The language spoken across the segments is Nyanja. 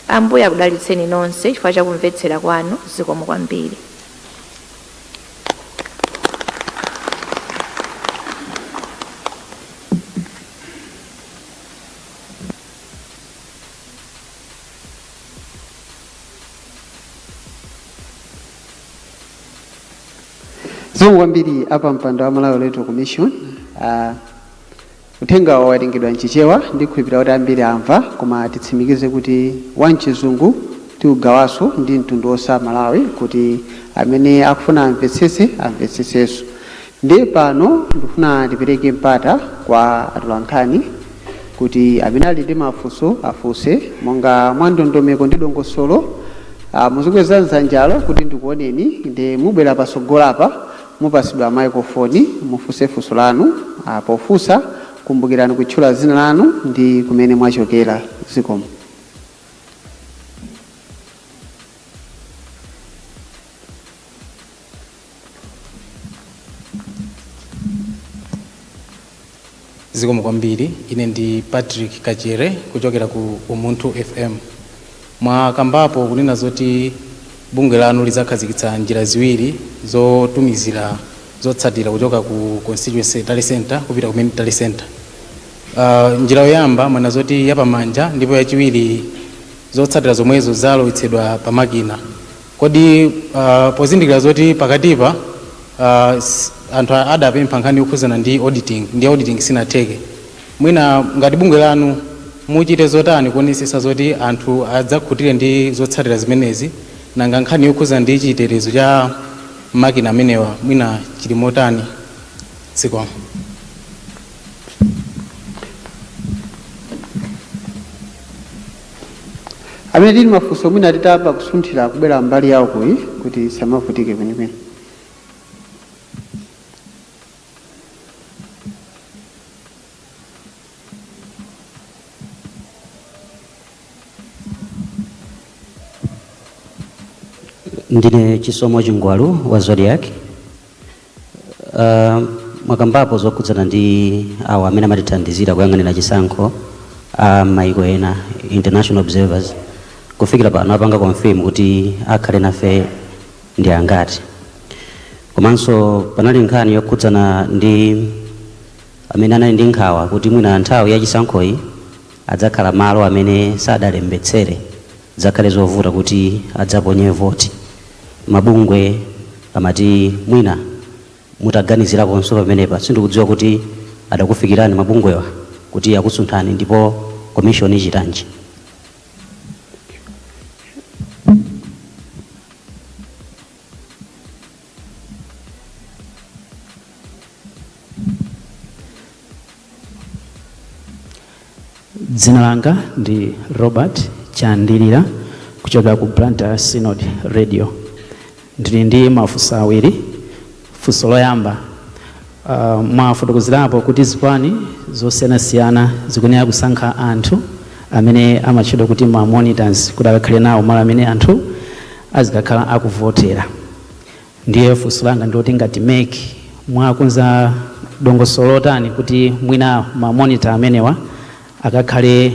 Ambuye akudalitseni nonse chifukwa cha kumvetsera kwanu zikomo kwambiri. zikomo kwambiri a pampando wa malawi electoral commission uh, Uthengawo wawerengedwa m'Chichewa, ndikhulupirira kuti ambiri amva, koma titsimikize kuti wa m'Chizungu tiugawanso ndi mtundu wonse wa Malawi kuti amene akufuna amvetsetse amvetsetsenso. Ndiye pano ndikufuna ndipereke mpata kwa atolankhani kuti amene ali ndi mafunso afunse monga mwa ndondomeko ndi dongosolo. Muzikweza dzanjalo kuti ndikuoneni, nde mubwera patsogolo apa Mupatsidwa maikolofoni, mufunse funso lanu. a Pofunsa, kumbukirani kutchula dzina lanu ndi kumene mwachokera. Zikomo. Zikomo kwambiri. Ine ndi Patrick Kachere kuchokera ku Umunthu FM. Mwakambapo kunena zoti bungwe lanu lidzakhazikitsa njira ziwiri zotumizira zotsatira kuchoka ku constituency tally center kupita ku main tally center. Uh, njira yoyamba mwanena zoti yapamanja ndipo yachiwiri zotsatira zomwezo zalowetsedwa pa makina. kodi uh, pozindikira zoti pakatipa uh, s- anthu a- adapempha nkhani yokhuzana ndi auditing ndi auditing sinatheke mwina ngati bungwe lanu muchite zotani kuonesesa zoti anthu adzakhutire ndi zotsatira zimenezi nanga nkhani yokhuzana ndi chitetezo cha makina amenewa mwina chili motani zikomo amene tili mafunso mwina titayamba kusunthira kubwera mbali ya ukuyi kuti samavutike kwenikweni ndine chisomo chingwalu wa zodiak Uh, mwakambapo zokhudzana ndi awo amene amatithandizira kuyang'anira chisankho a m'maiko ena international observers kufikira pano apanga confirm kuti akhale nafe ndi angati komanso panali nkhani yokhudzana ndi amene anali ndi nkhawa kuti mwina nthawi ya chisankhoyi adzakhala malo amene sadalembetsere Dzakhale zovuta kuti adzaponye voti. Mabungwe amati mwina mutaganizirakonso pamenepa. Sindikudziwa kuti anakufikirani mabungwewa kuti akusunthani ndipo commission ichitanji? dzina langa ndi robert chandilira kuchokera ku blantyre synod radio ndili ndi mafunso awiri funso loyamba uh, mwafotokozerapo kuti zipani zosiyanasiyana zikuyenera kusankha anthu amene amatchedwa kuti ma monitors kuti akakhale nawo malo amene anthu azikakhala akuvotera Ndiye funso langa ndiloti ngati mec mwakonza dongosolo lotani kuti mwina ma monitor amenewa akakhale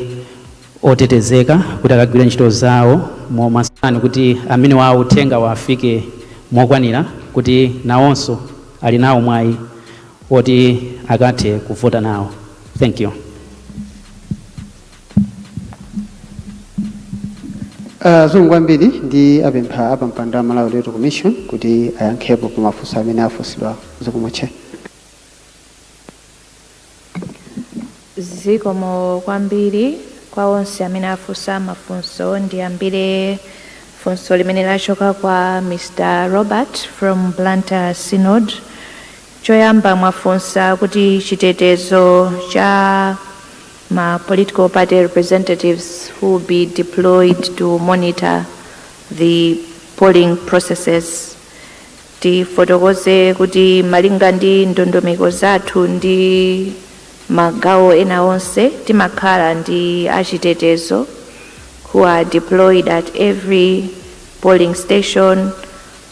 otetezeka kuti akagwire ntchito zawo momasuka kuti amenewa uthenga uwafike mokwanira kuti nawonso ali nawo mwayi woti akathe kuvota nawo. Thank you. zikomo kwambiri ndiwapemphe apampando a malawi electoral commission kuti ayankhepo pa mafunso amene afunsidwa zikomo chair zikomo kwambiri kwa onse amene afunsa mafunso ndiyambire funso limene lachoka kwa mr robert from blantyre synod choyamba mwafunsa kuti chitetezo cha ma political party representatives who will be deployed to monitor the polling processes tifotokoze kuti malinga ndi ndondomeko zathu ndi magawo ena onse timakhala ndi achitetezo who are deployed at every polling station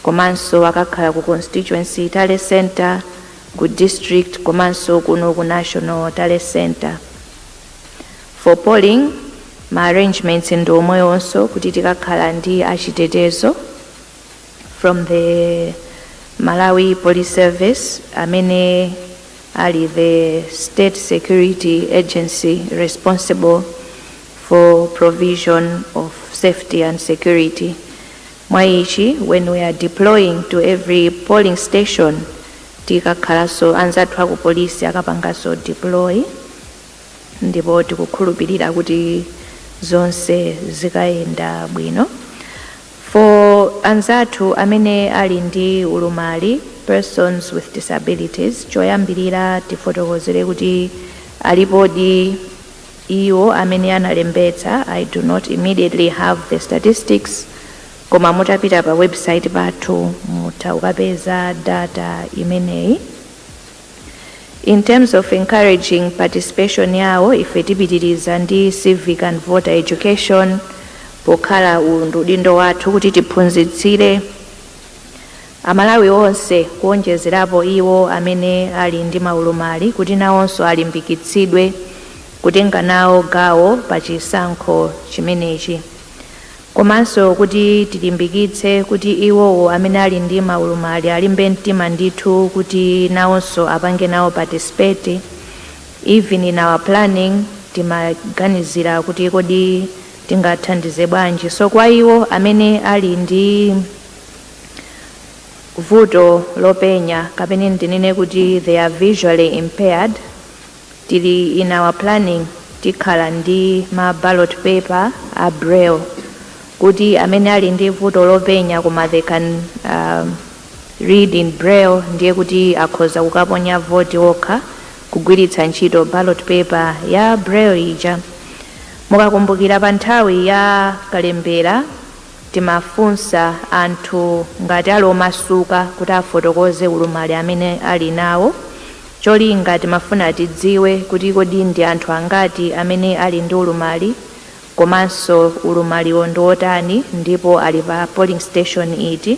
komanso akakhala ku constituency tally center ku district komanso kuno ku national tally center for polling ma arrangements ndi omwewonso kuti tikakhala ndi achitetezo from the malawi police service amene ali the state security agency responsible for provision of safety and security Mwa ichi, when we are deploying to every polling station, tikakhalaso anzathu aku polisi akapangaso deploy ndipo tikukhulupilira kuti zonse zikayenda bwino. For anzathu amene ali ndi ulumali, persons with disabilities, choyambirira tifotokozere kuti alipodi, iwo amene analembetsa I do not immediately have the statistics koma mutapita pa website pathu mutha kukapeza data imeneyi in terms of encouraging participation yawo ife tipitiriza ndi civic and voter education pokhala uwu ndi udindo wathu kuti tiphunzitsire Amalawi onse kuonjezerapo iwo amene ali ndi maulumali kuti nawonso alimbikitsidwe kutenga nawo gawo pa chisankho chimenechi komanso kuti tilimbikitse kuti iwowo amene ali ndi maulumali alimbe mtima ndithu kuti nawonso apange nawo participate even in our planning timaganizira kuti kodi tingathandize bwanji. So kwa iwo amene ali ndi vuto lopenya kapena ndinene kuti they are visually impaired tili in our planning tikhala ndi ma ballot paper a braille kuti amene ali ndi vuto lopenya koma they can um, read in braille ndiye kuti akhoza kukaponya voti okha kugwiritsa ntchito ballot paper ya Braille ija. Mukakumbukira pa nthawi ya kalembera timafunsa anthu ngati ali omasuka kuti afotokoze ulumali amene ali nawo. Cholinga timafuna tidziwe kuti kodi ndi anthu angati amene ali ndi ulumali komanso ulumaliwo ndi wotani ndipo ali pa polling station iti.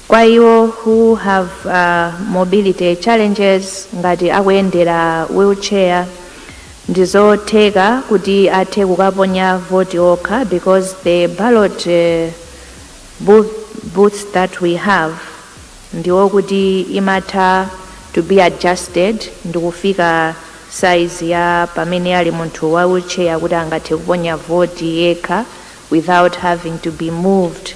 Kwa iwo who have mobility challenges ngati akuyendera wheel chair ndizotheka kuti athe kukaponya voti okha because the ballot booths that we have ndi okuti imatha to be adjusted ndikufika size ya pamene ali munthu wa wheel chair kuti angathe kuponya voti yekha without having to be moved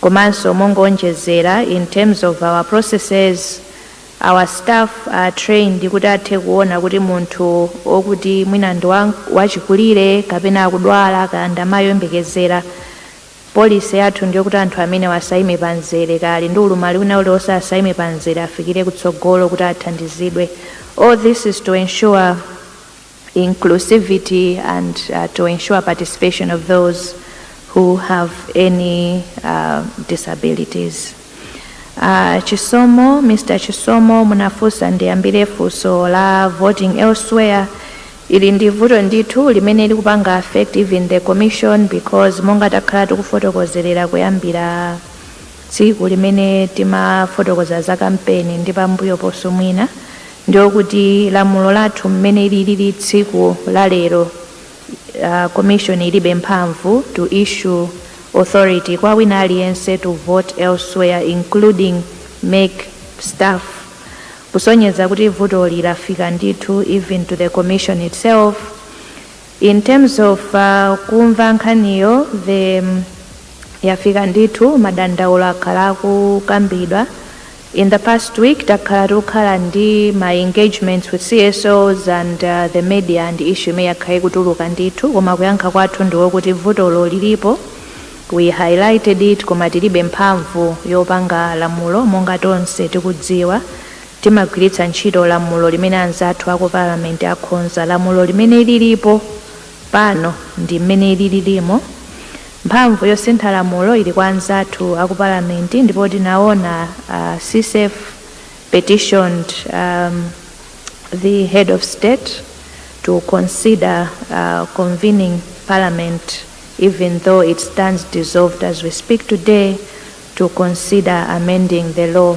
Komanso mongowonjezera in terms of our processes, our staff are trained kuti athe kuona kuti munthu okuti mwina ndi wachikulire kapena akudwala kaya ndi amayi oyembekezera, policy yathu ndiyokuti anthu amenewa asayime pa mzere kaya ali ndi ulumali wina uliwonse asayime pa mzere afikire kutsogolo kuti athandizidwe. All this is to ensure. inclusivity and uh, to ensure participation of those who have any uh, disabilities. Uh, Chisomo, Mr. Chisomo munafunsa ndiyambire funso la voting elsewhere ili ndi vuto ndithu limene likupanga affect even the commission because monga takhala tikufotokozerera kuyambira tsiku limene timafotokoza za kampeni ndi pambuyo ponso mwina Ndiyo kuti lamulo lathu m'mene liliri tsiku la lero commission ilibe mphamvu to issue authority kwa wina aliyense to vote elsewhere including MEC staff kusonyeza kuti vutoli lafika ndithu even to the commission itself. In terms of kumva nkhaniyo the yafika ndithu madandaulo akhala akukambidwa in the past week takhala tikukhala ndi ma engagements with CSOs and uh, the media ndi issue imene yakhala ikutuluka ndithu koma kuyankha kwathu ndiwo kuti vutolo lilipo we highlighted it koma tilibe mphamvu yopanga lamulo monga tonse tikudziwa Timagwiritsa ntchito lamulo limene anzathu a ku Parliament akhonza, lamulo limene lilipo pano ndi mmene lililimo. Mphamvu yosintha lamulo ili kwa anzathu a ku Parliament ndipo tinaona a CSEF petitioned the Head of State to consider convening Parliament even though it stands dissolved as we speak today to consider amending the law.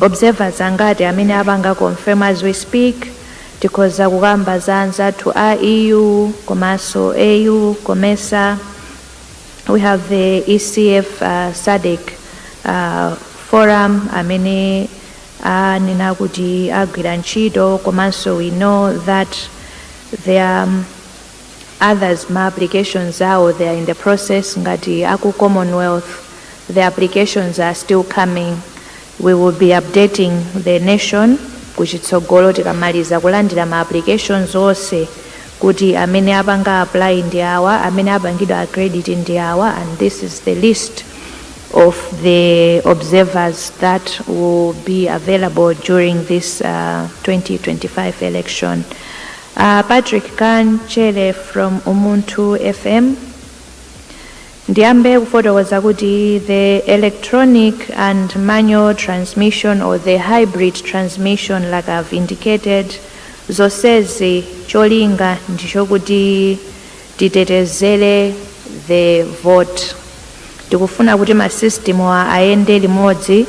observers angati amene apanga confirm as we speak? tikhoza kukamba za anzathu a EU komanso AU, COMESA, we have the ECF uh, SADC uh, forum amene anena kuti agwira ntchito komanso we know that there are others ma applications awo they are in the process ngati aku commonwealth the applications are still coming we will be updating the nation kuchitsogolo tikamaliza kulandira ma applications onse kuti amene apanga apply ndi awa amene apangidwa accredit ndi awa and this is the list of the observers that will be available during this uh, 2025 election. A Patrick Kanchere from Umunthu FM ndiyambe kufotokoza kuti the electronic and manual transmission or the hybrid transmission like I've indicated zonsezi cholinga ndichokuti titetezere the vote tikufuna kuti masystem wa ayende limodzi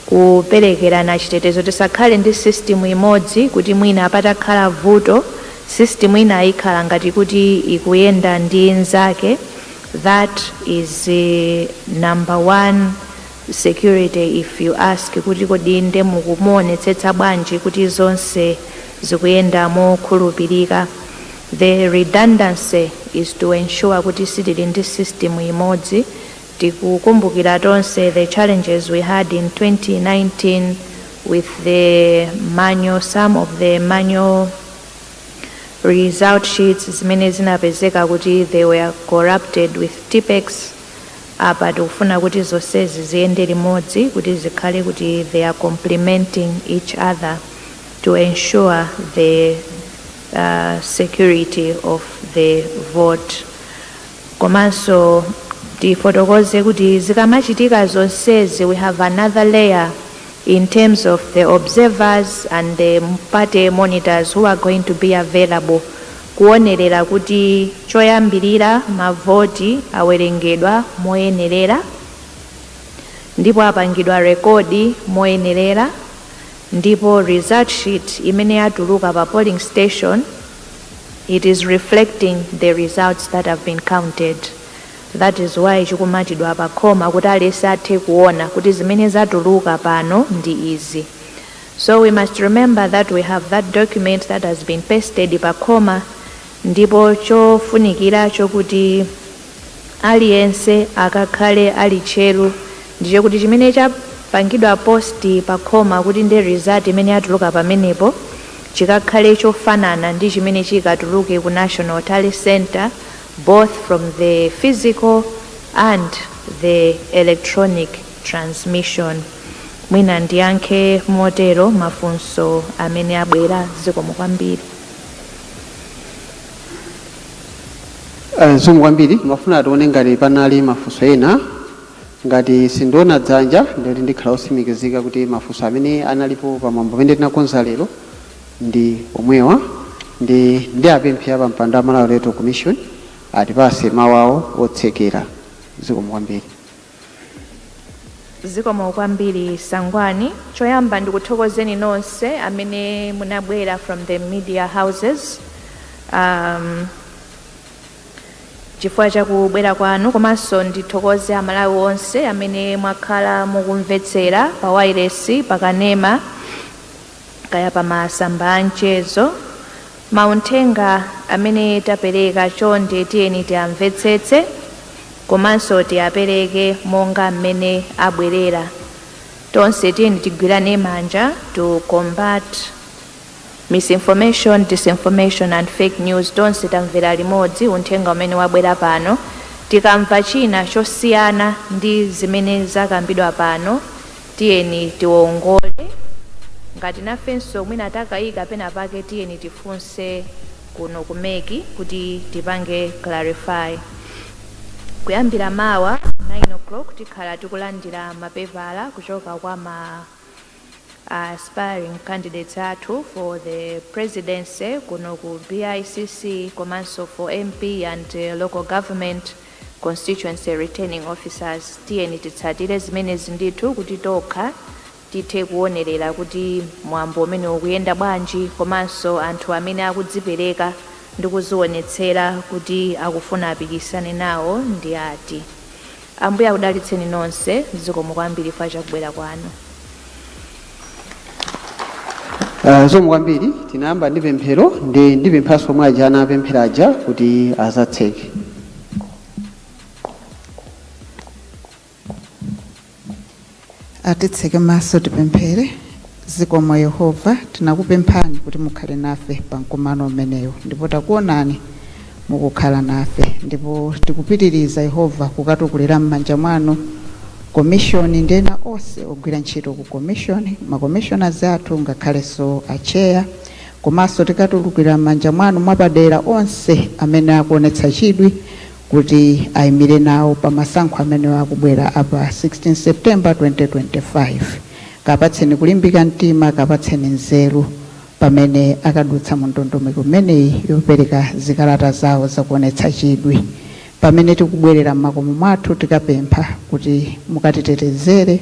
kuperekerana chitetezo tisakhale ndi system imodzi kuti mwina patakhala vuto system inayo ikhala ngati kuti ikuyenda ndi nzake that is number one security if you ask kuti kodi nde muku- muonetsetsa bwanji kuti zonse zikuyenda mokhulupirika the redundancy is to ensure kuti sitili ndi system imodzi Tikukumbukira tonse the challenges we had in 2019 with the manual, some of the manual result sheets zimene zinapezeka kuti they were corrupted with tipex apa tikufuna kuti zonsezi ziyende limodzi kuti zikhale kuti they are complementing each other to ensure the uh, security of the vote Komanso tifotokoze kuti zikamachitika zonsezi we have another layer in terms of the observers and the party monitors who are going to be available kuwonerera kuti choyambirira mavoti awerengedwa moyenerera ndipo apangidwa record moyenerera ndipo result sheet imene yatuluka pa polling station It is reflecting the results that have been counted that is why chikumatidwa pa khoma kuti aliyense athe kuona kuti zimene zatuluka pano ndi izi. So we must remember that we have that document that has been pasted pa khoma ndipo chofunikira choti Aliyense akakhale ali tcheru ndi chokuti chimene chapangidwa post pakhoma kuti ndi result imene yatuluka pamenepo chikakhale chofanana ndi chimene chikatuluke ku National Tally Centre both from the physical and the electronic transmission. Mwina ndiyankhe motero mafunso amene abwera. Zikomo kwambiri. Eh, zikomo kwambiri ndimafuna tione ngati panali mafunso ena ngati sindiona dzanja ndikuti ndikhala otsimikizika kuti mafunso amene analipo pamwambo umene tinakonza lero ndi omwewa ndi ndi apemphe apampando wa Malawi Electoral Commission atipatse mawu awo otsekera zikomo kwambiri zikomo kwambiri Sangwani choyamba ndikuthokozeni nonse amene munabwera from the media houses um, chifukwa cha kubwera kwanu komanso ndithokoze aMalawi onse amene mwakhala mukumvetsera pa wailesi pa kanema kaya pa masamba a mchezo, mauthenga amene tapereka chonde tiyeni tiamvetsetse komanso tiapereke monga mmene abwerera. Tonse tiyeni tigwirane manja to combat misinformation, disinformation and fake news. Tonse tamvera limodzi uthenga umene wabwera pano. Tikamva china chosiyana ndi zimene zakambidwa pano, Tiyeni tiwongole. Ngati nafenso mwina takayika pena pake tiyeni tifunse kuno ku mec kuti tipange clarify. Kuyambira mawa 9:00 tikhala tikulandira mapepala kuchoka kwa ma aspiring candidates athu for the presidency kuno ku BICC komanso for MP and local government. Constituency Returning Officers, tiyeni titsatire zimenezi ndithu kuti tokha tithe kuonerera kuti mwambo umenewu ukuyenda bwanji komanso anthu amene akudzipereka ndi kudzionetsera kuti akufuna apikisane nawo ndi ati. Ambuye akudalitseni nonse. Zikomo kwambiri chifukwa cha kubwera kwanu. Uh, zikomo kwambiri tinayamba ndi pemphero ndi ndipemphanso omwe aja anapemphera aja kuti adzatseke atitseke maso tipemphere zikomo yehova tinakupemphani kuti mukhale nafe pa mkumano umenewu ndipo takuonani mukukhala nafe ndipo tikupitiriza, Yehova, kukatukulira m'manja mwanu komishoni ndi ena onse ogwira ntchito ku komishoni, ma commissioners athu ngakhalenso atcheya. Komanso tikatukulira m'manja mwanu mwapadera onse amene akuonetsa chidwi kuti ayimire nawo pa masankho amene akubwera a pa 16 September 2025. Kapatseni kulimbika mtima, kapatseni nzeru. pamene akadutsa mu ndondomeko imeneyi yopereka zikalata zawo zakuonetsa chidwi. Pamene tikubwerera m'makomo mwathu tikapempha kuti mukatitetezere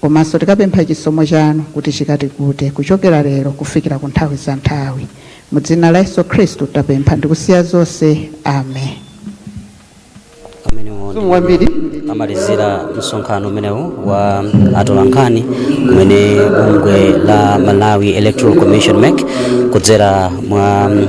komanso tikapempha chisomo chanu kuti chikatikute kuchokera lero kufikira ku nthawi za nthawi. Mu dzina la Yesu Khristu tapempha ndikusiya zonse. Amen. amenewo Zikomo kwambiri. amalizira msonkhano umenewu wa atolankhani umene bungwe la malawi electoral commission mec kudzera mwa mm,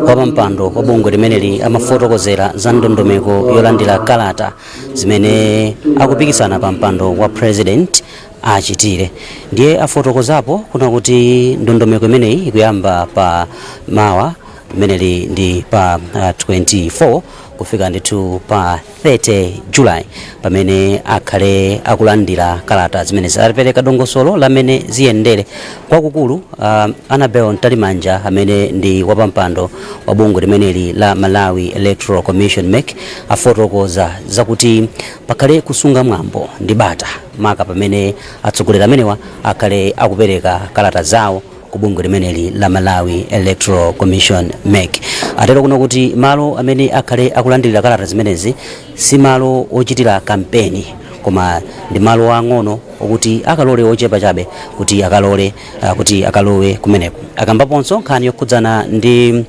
wapampando wa bungwe limeneli amafotokozera za ndondomeko yolandira kalata zimene akupikisana pa mpando wa president achitire ndiye afotokozapo kunena kuti ndondomeko imeneyi ikuyamba pa mawa limeneli ndi pa uh, 24 kufika ndithu pa 30 julayi pamene akhale akulandira kalata zimenezi apereka dongosolo la mmene ziyendere kwakukulu uh, annabel mtalimanja amene ndi wapampando wa bungwe limeneli la malawi electoral commission mec afotokoza zakuti pakhale kusunga mwambo ndi bata maka pamene atsogoleri amenewa akhale akupereka kalata zawo ku bungwe limeneli la Malawi Electoral Commission mec atero kunena kuti malo amene akhale akulandirira kalata zimenezi si malo ochitira kampeni koma ndi malo ang'ono okuti akalole ochepa chabe kuti akalole ah, kuti akalowe kumeneko akambaponso nkhani yokhudzana ndi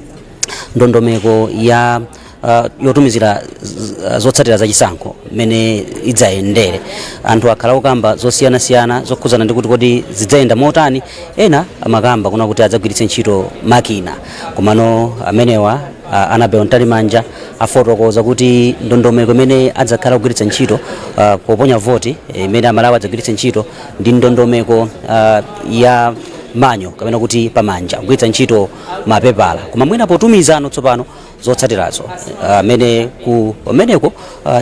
ndondomeko ya uh, yotumizira zotsatira za chisankho mmene idzayendere anthu akhala akukamba zosiyanasiyana zokhudzana ndi kuti kodi zidzayenda motani ena amakamba kunena kuti adzagwiritse ntchito makina komano amenewa uh, anabel mtalimanja afotokoza kuti ndondomeko imene adzakhala kugwiritsa ntchito uh, poponya voti imene amalawi adzagwiritse ntchito ndi ndondomeko uh, ya manual kapena kuti pamanja kugwiritsa ntchito mapepala koma mwina potumizano tsopano zotsatirazo amene kumeneko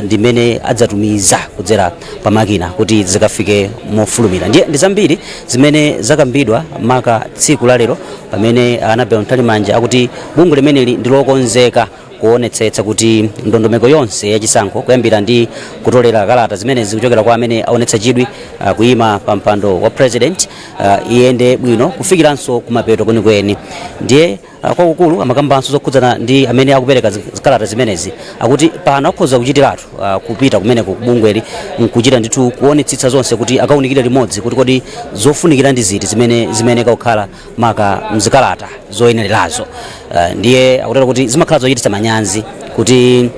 ndi kumene adzatumiza kudzera pa makina kuti zikafike mofulumira ndiye ndi zambiri zimene zakambidwa maka tsiku la lero pamene anabel mtalimanja akuti bungwe limeneli ndi lokonzeka kuonetsetsa kuti ndondomeko yonse yachisankho kuyambira ndi kutolera kalata zimene zikuchokera kwa amene aonetsa chidwi uh, kuyima pa mpando wa president uh, iyende bwino kufikiranso kumapeto kwenikweni ndiye Ah, kwakukulu amakambanso zokhudzana ndi amene akupereka zi- zikalata zimenezi akuti pano akhoza kuchitiratu ah, kupita kumene ku bungweli nkuchita ndithu kuonetsetsa zonse kuti akaunikire limodzi kuti kodi zofunikira ndi ziti zimene zimayeneka kukhala maka mzikalata zoyenererazo Ah, ndiye akutero kuti zimakhala zochititsa manyazi kuti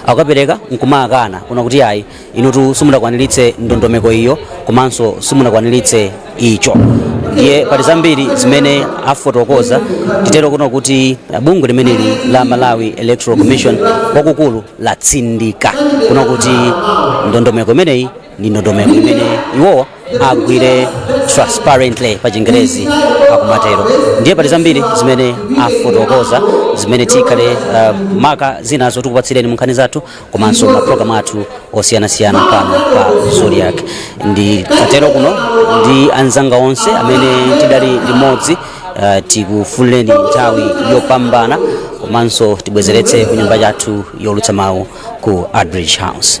akapereka nkumakana kunena kuti ayi inutu simunakwaniritse ndondomeko iyo komanso simunakwaniritse icho ndiye pali zambiri zimene afotokoza titero kunena kuti bungwe limeneli la malawi electoral commission kwakukulu latsindika kunena kuti ndondomeko imeneyi ndi ndondomeko imene iwowa agwire transparently pa chingerezi akumatero ndiye pali zambiri zimene afotokoza zimene tikhale uh, maka zinazo tikupatsireni munkhani zathu komanso mapulogalamu athu osiyanasiyana pano pa zodiak ndikatero kuno ndi anzanga onse amene tidali limodzi uh, tikufunireni nthawi yopambana komanso tibwezeretse ku nyumba yathu youlutsa mawu ku artbridge house